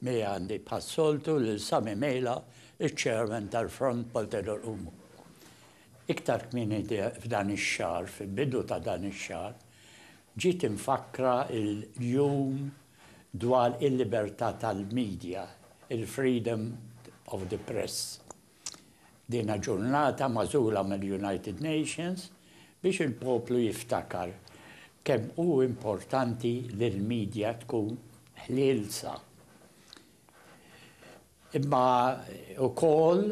Miegħi għandi bħas-soltu lil Sami Mejla, iċ-Chairman tal-Front Poltedor Umu. Iktar kmieni f'dan ix-xahar, fil-bidu ta' dan ix-xahar, ġiet imfakkra l-Jum dwar il-Libertà tal-Media, il-Freedom of the Press. Dina ġurnata magħżula mill-United Nations biex il-poplu jiftakar kemm hu importanti li l-media tkun ħlielsa. Imma ukoll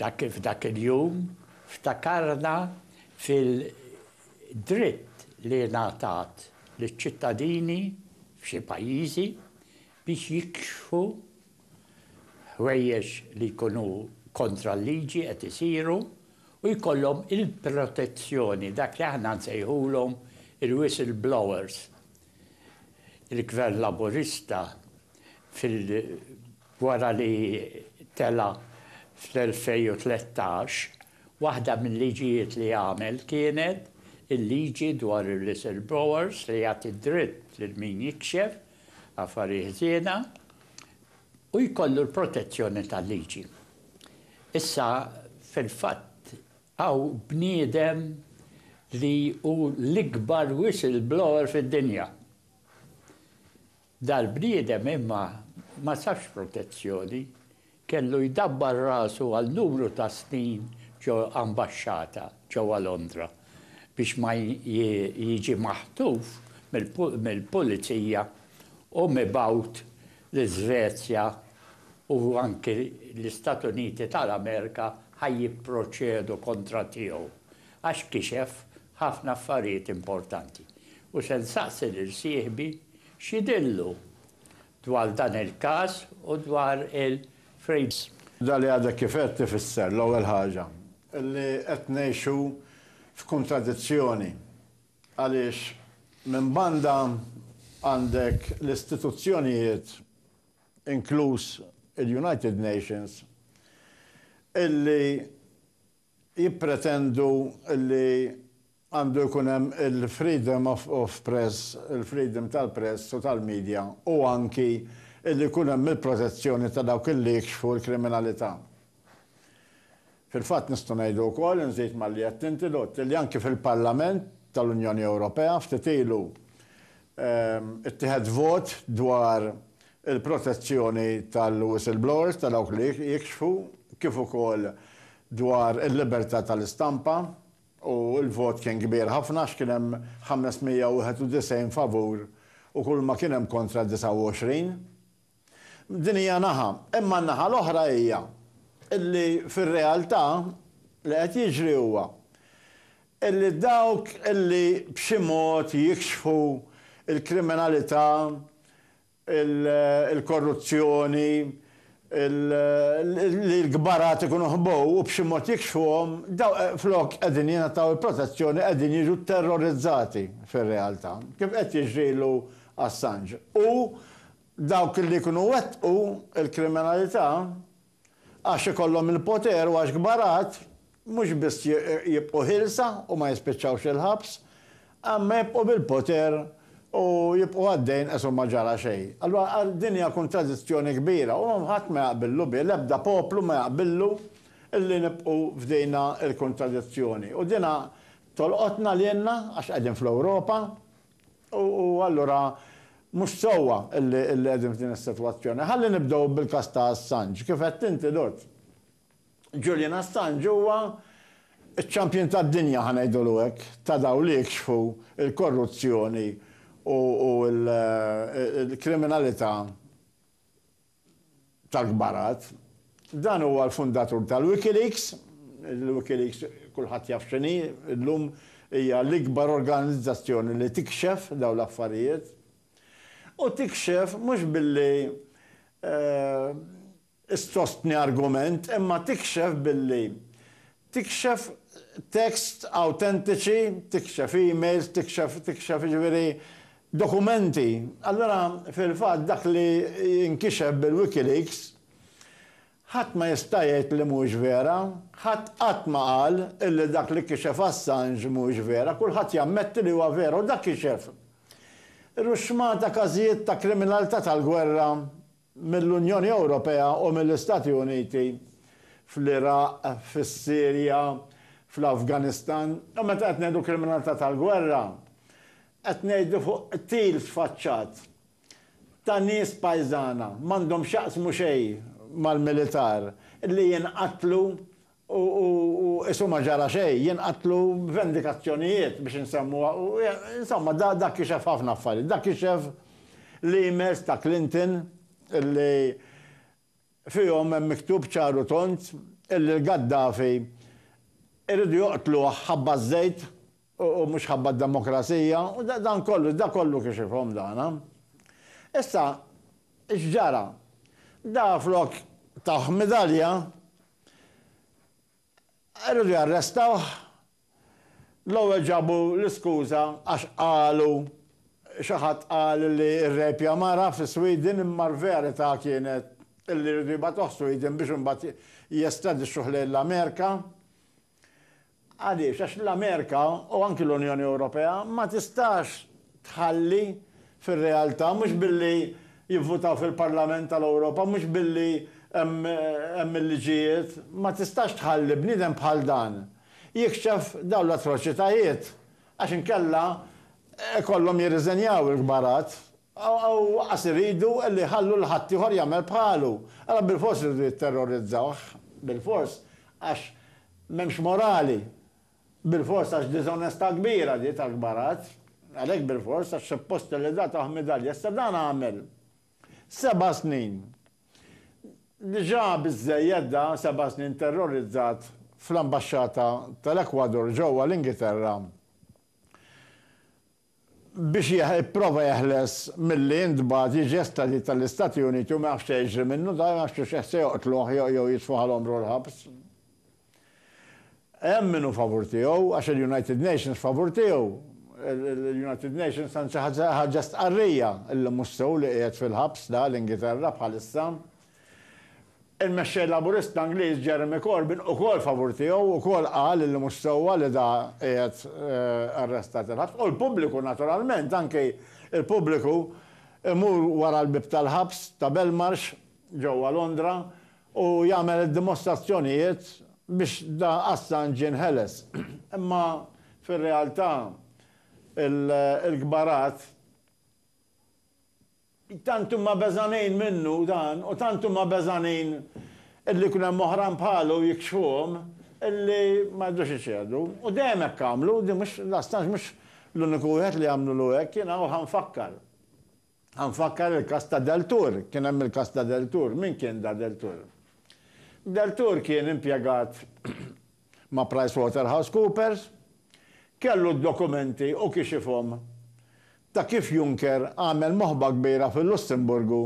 dak f'dak il-jum ftakarna fil-dritt li ngħatat liċ-ċittadini f'xi pajjiżi biex jikxfu Ħwejjeġ li jkunu kontra l-liġi qed isiru u jkollhom il-protezzjoni, dak li aħna nsejħulhom il-whistleblowers. Il-Gvern Laburista fil wara li tela' fl-2013, waħda mil-liġijiet li għamel kienet il-liġi dwar il-whistleblowers li jagħti d-dritt lil min jikxef Affari ħżiena, u jkollu l-protezzjoni tal-liġi. Issa, fil-fatt, hawn bniedem li hu l-ikbar whistleblower fid-dinja. Dal-bniedem imma ma sabx protezzjoni. Kellu jdabbar rasu għal numru ta' snin ġo ambaxxata ġewwa Londra biex ma jiġi maħtuf mill-pulizija u mibgħut l-Iżvezja u anki l-Istat Uniti tal-Amerika ħa jipproċedu kontra tiegħu għax kixef ħafna affarijiet importanti u se nsaqsi lil sieħbi x'jidhirlu dwar dan il-każ u dwar il-frames. Dak li għadek kif għedt ifisser, l-ewwel ħaġa, li qed ngħixu f'kuntradizzjoni għaliex minn banda għandek l-istituzzjonijiet, inkluż il-United Nations, illi jippretendu li għandu jkun hemm il-freedom of press, il-freedom tal-press u tal-media, u anki li jkun hemm il-protezzjoni ta' dawk li jikxfu l-kriminalità. Fil-fatt nistgħu ngħidu wkoll, inżid malli għedt inti, Lutt, li anki fil-Parlament tal-Unjoni Ewropea ftit ilu ttieħed vot dwar il-protezzjoni tal-whistleblowers, ta' dawk li jikxfu, kif ukoll dwar il-libertà tal-istampa, u l-vot kien kbir ħafna għax kien hemm 591 favur u kulma kien hemm kontra 29. Din hija naħa, imma n-naħa l-oħra hija illi fir-realtà li qed jiġri huwa illi dawk illi b'xi mod jikxfu l-kriminalità il-korruzzjoni, li l-kbarat ikunu ħbow u b'xi mod jikxfuhom, dawk flok qegħdin jingħataw il-protezzjoni qegħdin jiġu tterrorizzati fir-realtà, kif qed jiġri l Assange. U dawk li jkunu wettqu l-kriminalità Għax ikollhom il-poter u għax kbar għad, mhux biss jibqgħu ħielsa u ma jispiċċawx il-ħabs, imma jibqgħu bil-poter u jibqgħu għaddejjin qes u ma ġara xejn. Allura din hija kuntradizzjoni kbira u ħadd ma jaqbillu biha, l-ebda poplu ma jaqbillu li nibqgħu f'dina l-kuntradizzjoni. U dina tolqotna lilna għax qegħdin fl-Ewropa, U allura mhux sewwa li qegħdin f'din is-sitwazzjoni. Ħalli nibdew bil-każ ta' Assange. Kif għedt inti, Dott. Julian Assange huwa ċ-champion tad-dinja, ħa ngħidulu hekk, ta' dawk li jikxfu l-korruzzjoni u l-kriminalità tal-kbarat. Dan huwa l-fundatur tal-Wikileaks. Il-Wikileaks kulħadd jaf x'inhi llum, hija l-ikbar organizzazzjoni li tikxef dawn l-affarijiet. U tikxef mhux billi issostni argument imma tikxef billi Tikxef texts awtentiċi, tikxef emails, tikxef, tikxef, jiġifieri dokumenti. Allura, fil-fatt, dak li jinkixef bil-WikiLeaks, ħadd ma jista' jgħid li mhuwiex vera. Ħadd qatt ma qal illi dak li kixef Assange mhuwiex vera. Kulħadd jammetti li huwa vera u dak kixef ruxxmata każijiet ta' kriminalità tal-gwerra mill-Unjoni Ewropea u mill-Istati Uniti fl-Iraq, fis-Sirja, fl-Afganistan, u meta qed ngħidu kriminalità tal-gwerra, qed ngħidu fuq qtil sfaċċat ta' nies pajżana, m'għandhom x'jaqsmu xejn mal-militar, li jinqatlu u qisu ma ġara xejn, jinqatlu vendikazzjonijiet biex insemmuha u insomma dak kixef ħafna affarijiet. Dak kixef l-emails ta' Clinton illi fihom hemm miktub ċar u tond illi l-Gaddafi iridu joqtluh ħabba ż-żejt u mhux ħabba d-demokrazija u dan kollu, dak kollu kixifhom dan. Issa x'ġara? Dah flok tah midalja Irridu jarrestawh. L-ewwel ġabu l-iskuża għax qalu xi ħadd qal li rrejpja mara fi Sweden imma l-verità kienet li jridu jibgħatuh Sweden biex imbagħad jestradixxuh lejn l-Amerika. Għaliex? Għax l-Amerika u anki l-Unjoni Ewropea ma tistax tħalli fir-realtà, mhux billi jivvutaw fil-Parlament tal-Ewropa, mhux billi hemm il-liġijiet, ma tistax tħalli bniedem bħal dan jikxef dawn l-atroċitajiet għax inkella ikollhom jirriżenjaw il-kbarat u aqqas iridu li jħallu lil ħaddieħor jagħmel bħalu. Allura bilfors iridu jitterrorizzawh, bilfors, għax M'hemmx morali. Bilfors għax diżonestà kbira di tal-kbaratt. Għalhekk bilfors għax suppost li da tah midalja. Issa dan għamel seba' snin. Diġà biżżejjed da seba' snin terrorizzat fl-ambaxxata tal-Ekwador ġewwa l-Ingilterra. biex jipprova jeħles milli jintbagħat jiġi estradit għall-Istati Uniti u ma jafx se jiġri minnu, dan ma jafx jekk se joqtluh jew jitfgħu għal għomru l-ħabs. Hemm min hu favur tiegħu, għax il-United Nations favur tiegħu. Il-United Nations anzi ħarġet stqarrija li mhux sew li qiegħed fil-ħabs da l-Ingilterra bħalissa. Il-Mexxej Laburista Ingliż Jeremy Corbyn ukoll favur tiegħu, ukoll qal illi mhux sewwa li da qiegħed arrestat il-ħabs u l-pubbliku naturalment, anki l-pubbliku imur wara l-bieb tal-ħabs ta' Belmarsh ġewwa Londra u jagħmel id-dimostrazzjonijiet biex da Assange jinħeles. Imma fir-realtà il-kbarat. Tant huma beżgħanin minnu dan u tant huma beżgħanin illi jkun hemm oħrajn bħalu jikxfuhom illi ma jridux iċedu. U dejjem hekk għamlu, din mhux, daqstant mhux l-uniku wieħed li għamlulu hekk. Jiena hawn ħa nfakkar. Ħa nfakkar il-każ ta' Deltour. Kien hemm il-każ ta' Deltour. Min kien da Deltour? Deltour kien impjegat ma' PricewaterhouseCoopers, kellu d-dokumenti u kixifhom ta' kif Juncker għamel moħba kbira fil-Lussemburgu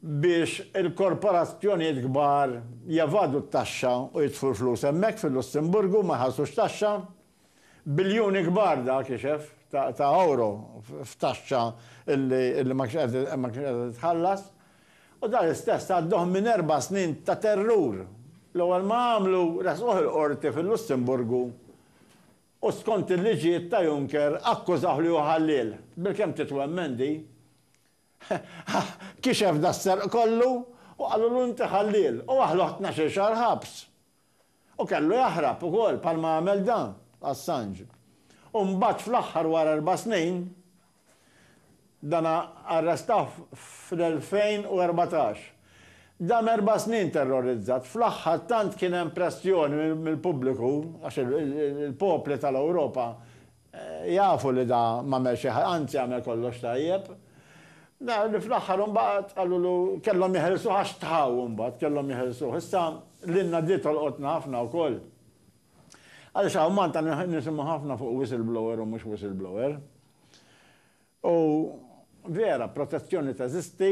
biex il-korporazzjonijiet kbar jevadu t-taxxa u jitfu l-flus hemmhekk fil-Lussemburgu u ma jħallsux taxxa. Biljuni kbar dak ixef ta' ewro f'taxxa illi ma kienx qiegħda titħallas. U dan l-istess għadduh minn erba' snin ta' terrur. L-ewwel ma għamlu resquh il-Qorti fil-Lussemburgu u skont il-liġijiet ta' Juncker akkużawh li hu ħalliel. Bilkemm titwemmen di. Kixef das-serq kollu u qalulu inti ħalliel u aħluh tnax-il xahar ħabs. U kellu jaħrab ukoll bħalma għamel dan, Assange. U mbagħad fl-aħħar wara erba' snin, dan arrestawh fl-2014. Dam erba' snin terrorizzat, fl-aħħar tant kien hemm pressjoni mill-pubbliku, għax il-popli tal-Ewropa Jafu li da m'għamel xi ħaġa, anzi għamel kollox tajjeb. Naraw li fl-aħħar imbagħad qalulu kellhom jeħilsuh għax tħaw imbagħad, kellhom jeħilsuh. Issa lilna di tolqotna ħafna wkoll. Għaliex hawn Malta nisimgħu ħafna fuq whistleblower u mhux whistleblower. U vera, protezzjoni teżisti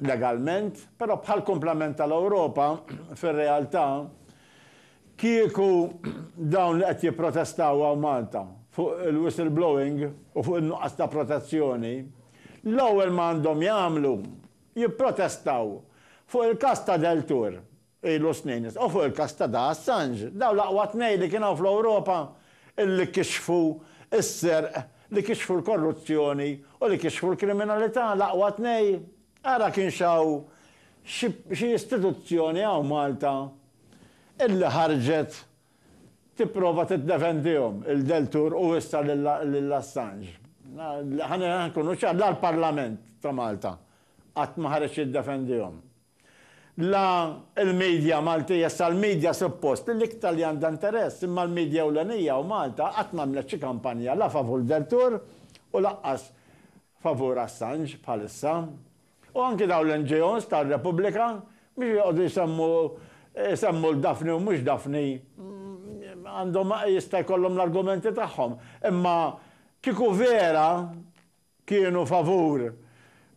legalment, però bħall-kumplament tal-Ewropa, fir-realtà, kieku dawn li qed jipprotestaw hawn Malta fuq il-whistleblowing u fuq in-nuqqas ta' protezzjoni, l-ewwel ma għandhom jagħmlu jipprotestaw fuq il-każ ta' Deltour ilu snin. U fuq il-każ ta' Da Assange, dawn l-aqwa tnejn li kien hawn fl-Ewropa illi kixfu s-serq, li kixfu l-korruzzjoni u li kixfu l-kriminalità, l-aqwa tnejn, ara kienx hawn xi xi istituzzjoni hawn Malta illi ħarġet tipprova tiddefendihom, il-Deltour u issa lil Assange. Ħa nkunu ċar, la l-Parlament ta' Malta qatt ma ħareġ jiddefendihom. La l-media Maltija, issa l-media suppost l-iktar li għandha interess, imma l-media ewlenija u Malta qatt m'għamlet xi kampanja la favur Deltour u lanqas favur Assange bħalissa. U anki dawn l-NGOs ta' Repubblika biex joqogħdu jsemmu jsemmu 'l Daphne u mhux Daphne għandhom jista' jkollhom l-argumenti tagħhom, imma kieku vera kienu favur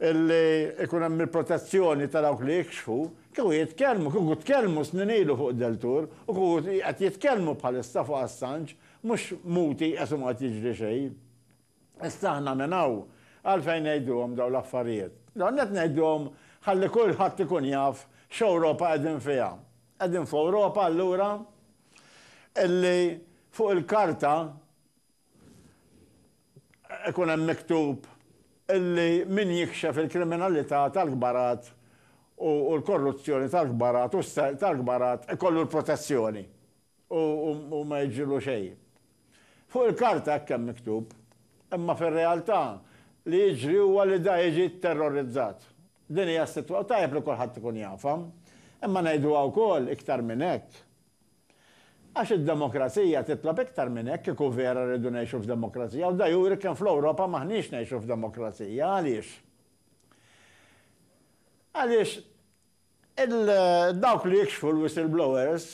li jkun hemm il-protezzjoni ta' dawk li jikxfu, kieku jitkellmu, kieku tkellmu snin ilu fuq Deltour u kieku qed jitkellmu bħalissa fuq Assange, mhux muti qes u ma qed jiġri xejn. Issa aħna minn hawn għalfejn ngħiduhom dawn l-affarijiet? L-ewwel nett ngħiduhom ħalli kulħadd ikun jaf x'Ewropa qegħdin fiha. Qegħdin f'Ewropa allura li fuq il-karta ikun hemm miktub illi min jikxef il-kriminalità tal-kbarat u l-korruzzjoni tal-kbarat u s-serq tal-kbarat ikollu l-protezzjoni u ma jiġrilu xejn. Fuq il-karta hekk hemm miktub, imma fir-realtà li jiġri huwa li da jiġi tterrorizzat. Din hija s-sitwa u tajjeb li kulħadd ikun jafha. Imma ngħiduha wkoll iktar minn hekk, Għax id-demokrazija titlob iktar minn hekk, kieku vera rridu ngħixu f'demokrazija, u da juri kemm fl-Ewropa m'aħniex ngħixu f'demokrazija. Għaliex? Għaliex il-dawk li jikxfu l-whistleblowers,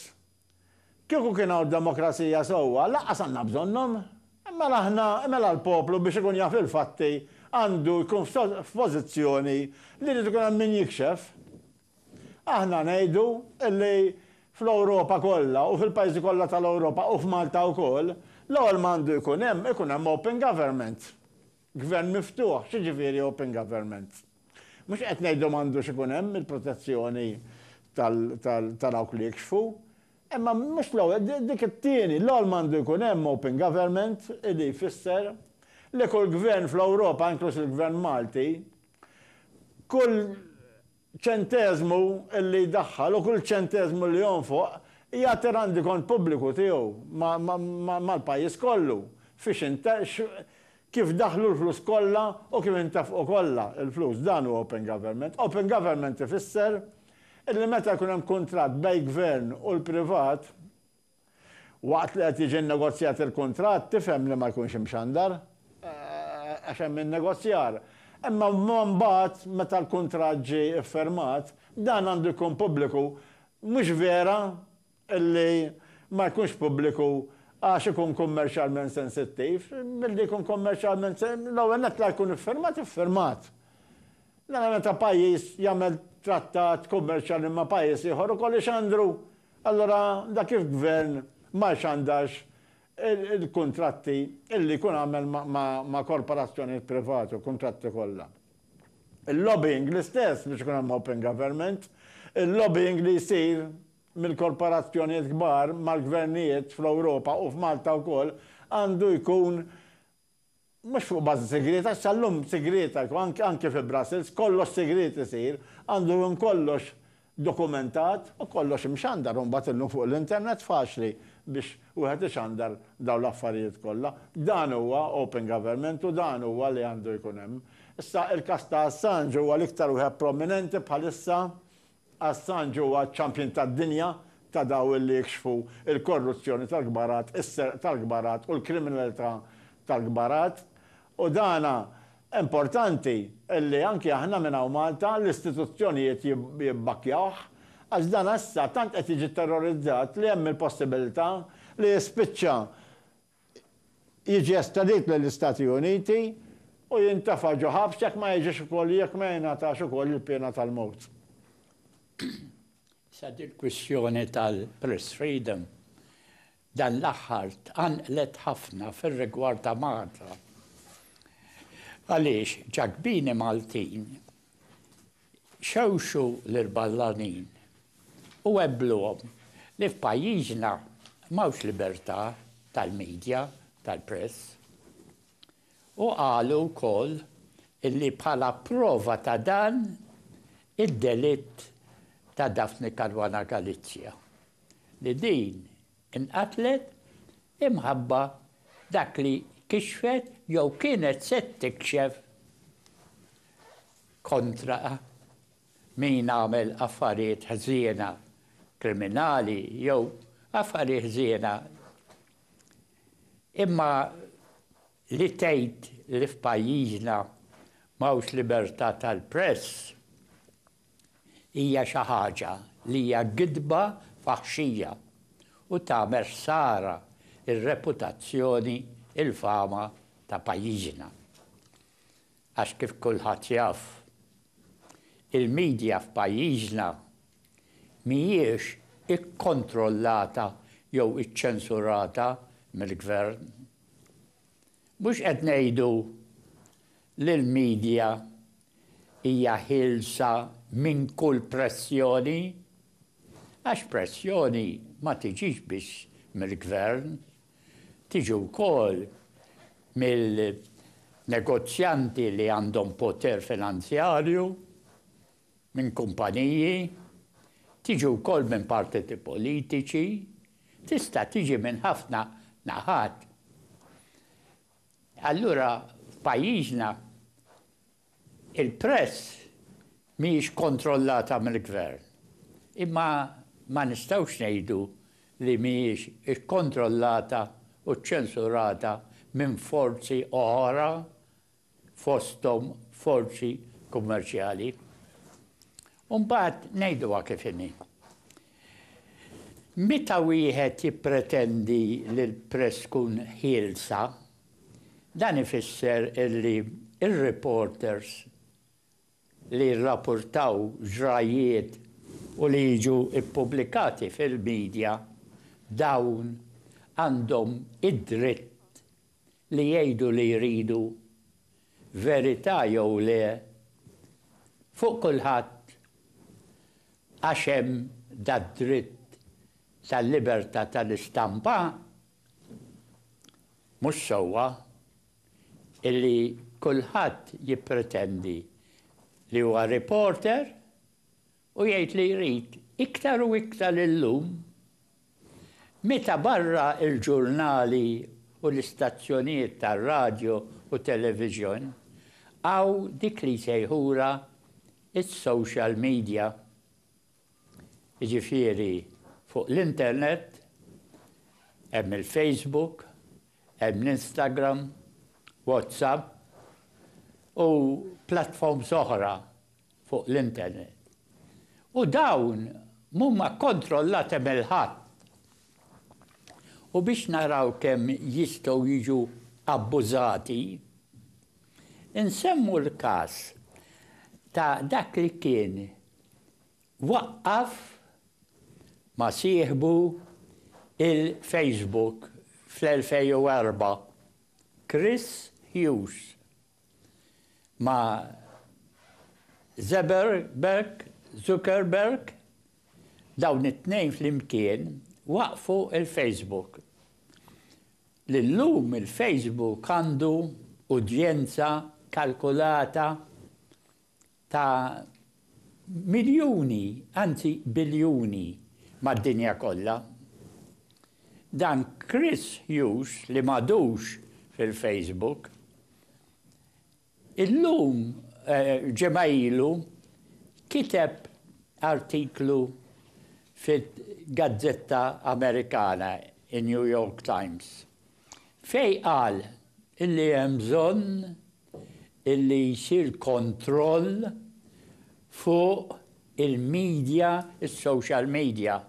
kieku kien hawn demokrazija sewwa, lanqas għandna bżonnhom. Mela aħna, mela l-poplu biex ikun jaf il-fatti għandu jkun f'pożizzjoni li jrid ikun hemm min jikxef. Aħna ngħidu li fl-Ewropa kollha u fil-pajjiżi kollha tal-Ewropa u f'Malta wkoll, l-ewwel ma għandu jkun hemm, ikun hemm open government. Gvern miftuħ, x'jiġifieri open government? Mhux qed ngħidu m'għandux ikun hemm il-protezzjoni ta' dawk li jikxfu, imma mhux l-ewwel, dik it-tieni, l-ewwel ma għandu jkun hemm open government li jfisser li kull gvern fl-Ewropa, inkluż il-gvern Malti, Kull ċenteżmu li jdaħħal u kull ċenteżmu li jonfoq jagħti rendikont pubbliku tiegħu mal-pajjiż kollu fiex kif daħlu l-flus kollha u kif intefqu kollha l-flus. Dan hu open government. Open government ifisser illi meta jkun hemm kuntratt bejn gvern u l-privat, Waqt li qed jiġi nnegozjat il-kuntratt tifhem li ma jkunx imxandar għax hemm in-negozjar. Imma mbagħad meta l-kuntratt ġie iffirmat, dan għandu jkun pubbliku. Mhux vera li ma jkunx pubbliku għax ikun kummerċjalment sensittiv. Milli jkun kummerċjalment l-ewwel nett la jkun iffirmat iffirmat. Nara meta pajjiż jagħmel trattat kummerċjali ma' pajjiż ieħor ukoll ixandru Allura dak il-gvern ma jxandarx il-kuntratti illi jkun għamel ma' korporazzjonijiet privati, il-kuntratti kollha. Il-lobbying l-istess biex ikun hemm open government, il-lobbying li jsir mill-korporazzjonijiet kbar mal-gvernijiet fl-Ewropa u f'Malta wkoll għandu jkun Mhux fuq bażi sigrieta, għax sal-lum sigrieta, anke fi Brussels, kollox sigriet isir, għandu jkun kollox dokumentat u kollox imxandar u mbagħad illum fuq l-internet faċli biex wieħed ixandar dawn l-affarijiet kollha. Dan huwa open government u dan huwa li għandu jkun hemm. Issa, il-każ ta' Assange huwa l-iktar wieħed prominenti bħalissa Assange huwa ċ-champion tad-dinja ta' daw li jikxfu l-korruzzjoni tal-kbarat, is-serq tal-kbarat u l-kriminalità tal-kbarat. U dan importanti li anki aħna minn hawn Malta, l-istituzzjonijiet jibbakkjawh, għax dan issa tant qed jiġi terrorizzat li hemm il-possibilità li jispiċċa jiġi estradit lill-Istati Uniti u jintefa' ġo ħabs jekk ma jiġix ukoll jekk ma jingħatax ukoll il-piena tal-mewt. Issa dil-kwistjoni tal-press freedom dan l-aħħar tqanqlet ħafna fir-rigward ta' Malta għaliex ċagbini Maltin, Xewxu lill-ballanin u għebbluhom li f'pajjiżna m'hawnx libertà tal-media, tal-press. U qalu wkoll li bħala prova ta' dan id-delitt ta' Daphne Caruana Galizia li din inqatlet Imħabba, dak li kixfet jew kienet se tikxef kontra min għamel affarijiet ħżiena, kriminali jew affarijiet ħżiena, imma li tgħid li f'pajjiżna m'hawnx libertà tal-press, hija xi ħaġa li hija gidba faħxija u tagħmel ħsara r-reputazzjoni, il-fama ta' pajjiżna. Għax kif kulħadd jaf, il-media f'pajjiżna mhijiex ikkontrollata jew iċċensurata mill-Gvern. Mhux qed ngħidu li l-media hija ħielsa minn kull pressjoni, għax pressjoni ma tiġix biss mill-Gvern, tiġi wkoll mill-negozjanti li għandhom poter finanzjarju, minn kumpaniji, tiġi wkoll minn partiti politiċi, tista' tiġi minn ħafna naħat. Allura f'pajjiżna il-press mhijiex kontrollata mill-Gvern, imma ma nistgħux ngħidu li mhijiex ikkontrollata u ċċensurata minn forzi oħra fosthom forzi kummerċjali. U mbagħad ngħiduha kif inhi. Meta wieħed jippretendi li l-press tkun ħielsa, dan ifisser li r-reporters li jirrapurtaw ġrajjiet u li jiġu ppubblikati fil-midja, dawn għandhom id-dritt li jgħidu li jridu verità jew le fuq kulħadd għax hemm dad-dritt tal-libertà tal-istampa, mhux sewwa illi kulħadd jippretendi li huwa reporter U jgħid li jrid iktar u iktar illum meta barra l-ġurnali u l-istazzjonijiet tar-radju u television hawn dik li jsejħulha s-social media, jiġifieri fuq l-internet hemm il-Facebook, hemm l-Instagram, WhatsApp u platforms oħra fuq l-internet u dawn mhuma kkontrollati mill ħadd u biex naraw kemm jistgħu jiġu abbużati, insemmu l-każ ta' dak li kien waqqaf ma' sieħbu il-Facebook fl-2004, Chris Hughes. ma' Zeberberg, Zuckerberg, dawn it-tnejn flimkien waqqfu l-Facebook. Li llum il-Facebook għandu udjenza kalkulata ta' miljuni, anzi biljuni, mad-dinja kollha. Dan Chris Hughes li m'għadux fil-Facebook, illum, ġimgħa ilu, kiteb artiklu fil-gazzetta Amerikana, in-New York Times, Fejn qal illi hemm bżonn illi jsir kontroll fuq il-media, is-social media.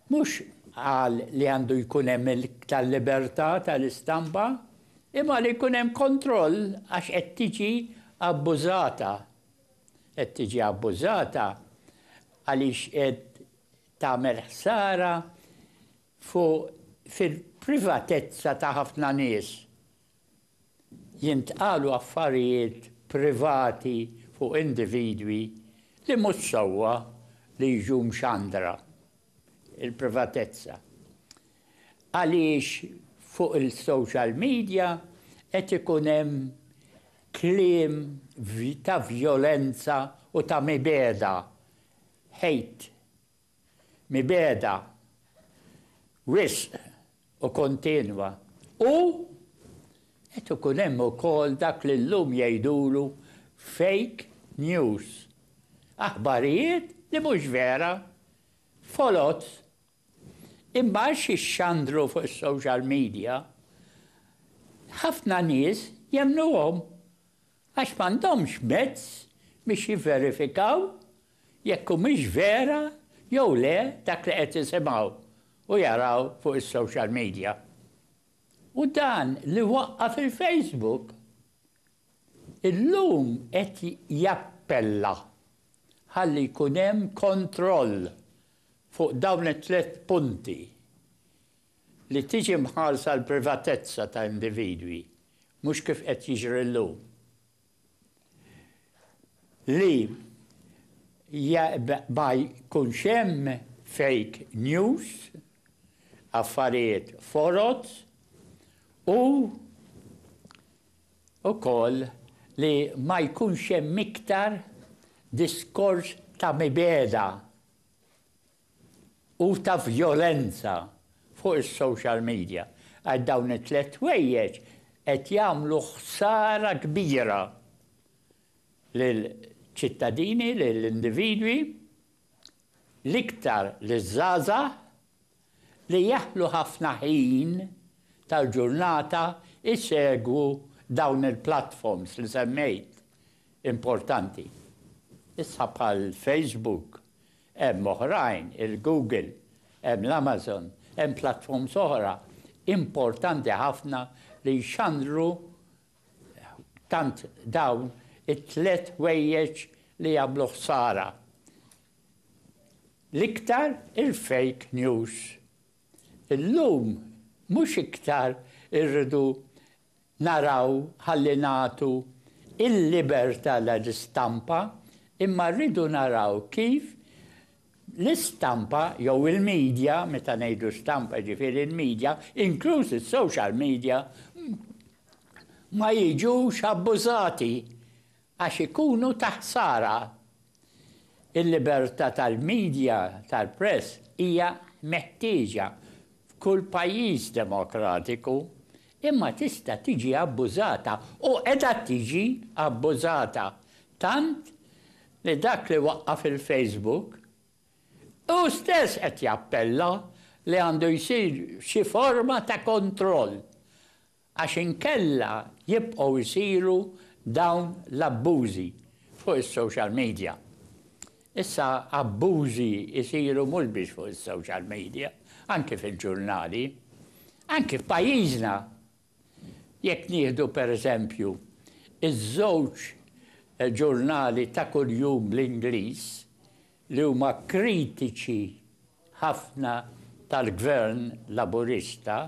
Mhux qal li għandu jkun hemm iktar libertà tal-istampa, imma li jkun hemm kontroll għax qed tiġi abbużata. Qed tiġi abbużata għaliex qed tagħmel ħsara fuq fil-privatezza ta' ħafna nies. Jintqalu affarijiet privati fuq individwi li mhux sewwa li jiġu mxandra. Il-privatezza. Għaliex fuq il-social media qed ikun hemm kliem ta' vjolenza u ta' mibegħda, hate. mibegħda wisq u kontinwa u qed ikun hemm ukoll dak li llum jgħidulu fake news, aħbarijiet li mhux vera, foloz, imma għax jixxandru fuq is-social media, ħafna nies jemmnuhom Għax m'għandhomx mezz biex jivverifikaw jekk humiex vera jew le dak li qed isimgħu u jaraw fuq is-social media. U dan li waqqa' fil-Facebook illum qed jappella ħalli jkun hemm kontroll fuq dawn it-tliet punti Li tiġi mħarsa l-privatezza ta' individwi, mhux kif qed jiġri llum, li ma jkunx hemm fake news, affarijiet foroz u wkoll li ma jkunx hemm iktar diskors ta' mibegħda u ta' vjolenza fuq is-social media għax dawn it-tliet ħwejjeġ qed jagħmlu ħsara kbira lill-ċittadini, lill-individwi, l-iktar liż-żgħażagħ li jaħlu ħafna ħin tal-ġurnata jsegwu dawn il-platforms li semmejt importanti issa bħal Facebook, Hemm oħrajn, il-Google, hemm l-Amazon, hemm platforms oħra importanti ħafna li jxandru tant dawn it-tliet ħwejjeġ li jagħmlu ħsara. L-iktar il-fake news. Illum mhux iktar irridu naraw ħalli nagħtu l-libertà lill-istampa imma rridu naraw kif l-istampa jew il-media, meta ngħidu stampa jiġifieri l-media, inkluż is-social media, ma jiġux abbużati Għax ikunu ta' ħsara. Il-libertà tal-midja, tal-press, hija meħtieġa f'kull pajjiż demokratiku, imma tista' tiġi abbużata, u qiegħda tiġi abbużata, tant li dak li waqqaf il-Facebook hu stess qed jappella li għandu jsir xi forma ta' kontroll għax inkella jibqgħu jsiru dawn l-abbużi fuq is-social media. Issa abbużi jsiru mhux biss fuq is-social media, anki fil-ġurnali. Anki f'pajjiżna, jekk nieħdu per eżempju ż-żewġ ġurnali ta' kuljum bl-Ingliż li huma kritiċi ħafna tal-Gvern Laburista,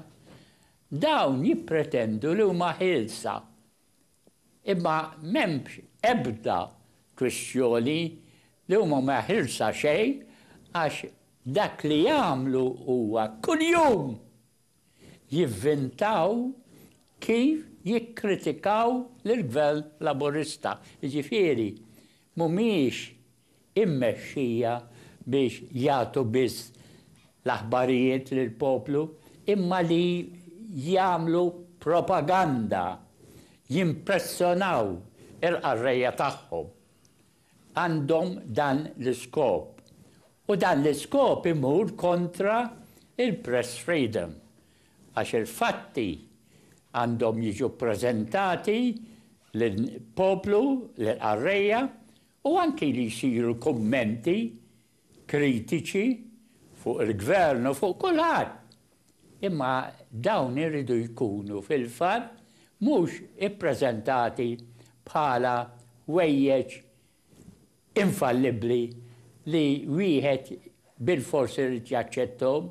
Dawn jippretendu li huma ħielsa, imma m'hemmx ebda kwistjoni li huma ma ħilsa xejn għax dak li jagħmlu huwa kuljum jivvintaw kif jikkritikaw lill-Gvern Laburista, jiġifieri m'humiex immexxija biex jagħtu biss l-aħbarijiet lill-poplu imma li jagħmlu propaganda, jimpressonaw il-qarrejja tagħhom. Għandhom dan l-iskop. U dan l-iskop imur kontra il-press freedom għax il-fatti għandhom jiġu ppreżentati lill-poplu, lill-qarrejja u anki li jsiru kummenti kritiċi fuq il-Gvern u fuq kulħadd, imma dawn iridu jkunu fil-fatt mhux ippreżentati bħala ħwejjeġ infallibbli li wieħed bilfors irid jaċċetthom.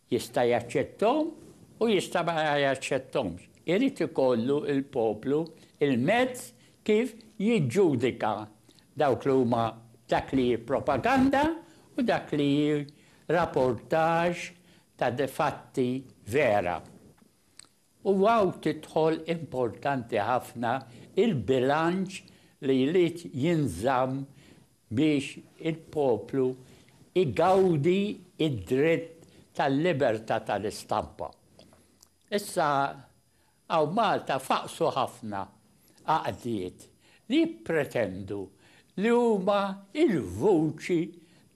Jista' jaċċetthom u jista' ma jaċċetthomx. Irid ikollu l-poplu l-mezz kif jiġġudika dawk li huma dak li hi propaganda u dak li hi rapportaġġ ta' fatti vera. U hawn tidħol importanti ħafna l-bilanċ li jrid jinżamm biex il-poplu jgawdi d-dritt tal-libertà tal-istampa. Issa hawn Malta faqqsu ħafna għaqdiet li jippretendu li huma l-vuċi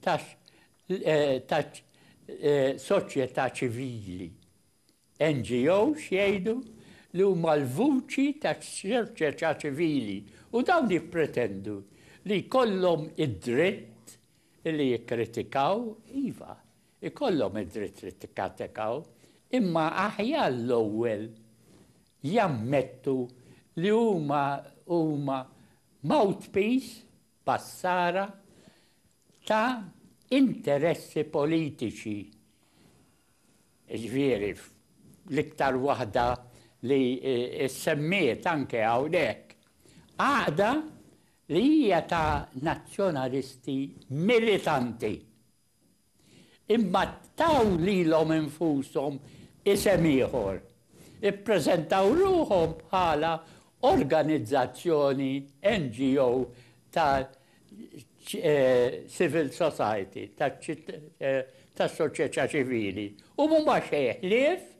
taċ-soċjetà ċivili. NGOs jgħidu li huma l-vuċi tas-soċjetà ċivili u dawn jippretendu li jkollhom id-dritt li jikkritikaw, iva, ikollhom id-dritt li tikkatikaw, imma aħjar l-ewwel jammettu li huma huma mouthpiece, passara, ta' interessi politiċi. jiġifieri fl-iktar waħda li ssemmiet anke hawnhekk, għaqda li hija ta' nazzjonalisti militanti. Imma taw lilhom infushom isem ieħor, ippreżentaw ruħhom bħala organizzazzjoni, NGO, ta' civil society, ta' soċjetà ċivili, u huma xejn ħlief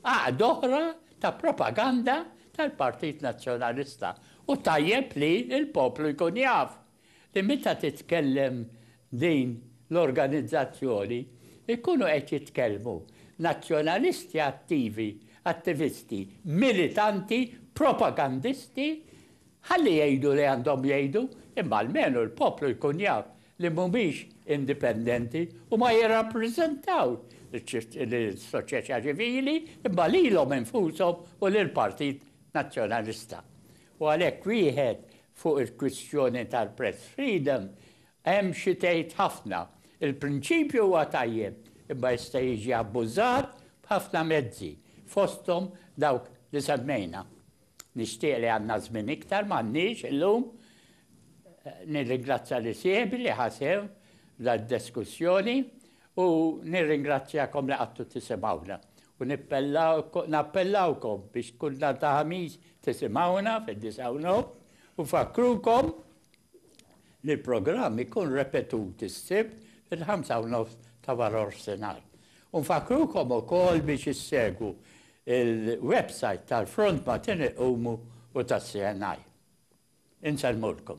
għaqda oħra ta' propaganda tal-Partit Nazzjonalista. U tajjeb li l-poplu jkun jaf li meta titkellem din l-organizzazzjoni jkunu qed jitkellmu nazzjonalisti attivi, attivisti, militanti, propagandisti, ħalli jgħidu li għandhom jgħidu imma almenu l-poplu jkun jaf li mhumiex indipendenti u ma jirrappreżentaw lis-soċjetà ċivili imma lilhom infushom u lill-Partit Nazzjonalista. U għalhekk wieħed fuq il-kwistjoni tal-press freedom hemm xi tgħid ħafna. Il-prinċipju huwa tajjeb imma jista' jiġi abbużat b'ħafna mezzi, fosthom dawk li semmejna. Nixtieq li għandna żmien iktar, m'għandniex illum. Nirringrazzja lil sieħbi li ħa sehem f'dan id-diskussjoni u nirringrazzjakom li qgħadtu tisimgħuna. U nappellawkom biex kull nhar ta' Ħamis tisimgħuna fid-disgħa u nofs u nfakkrukom li l-programm ikun repetut is-Sibt fil-ħamsa u nofs ta' warofsinhar. U nfakkrukom ukoll biex issegwu l-websajt tal-Front Matene Qumu u tas-CNI. Insellmulkom.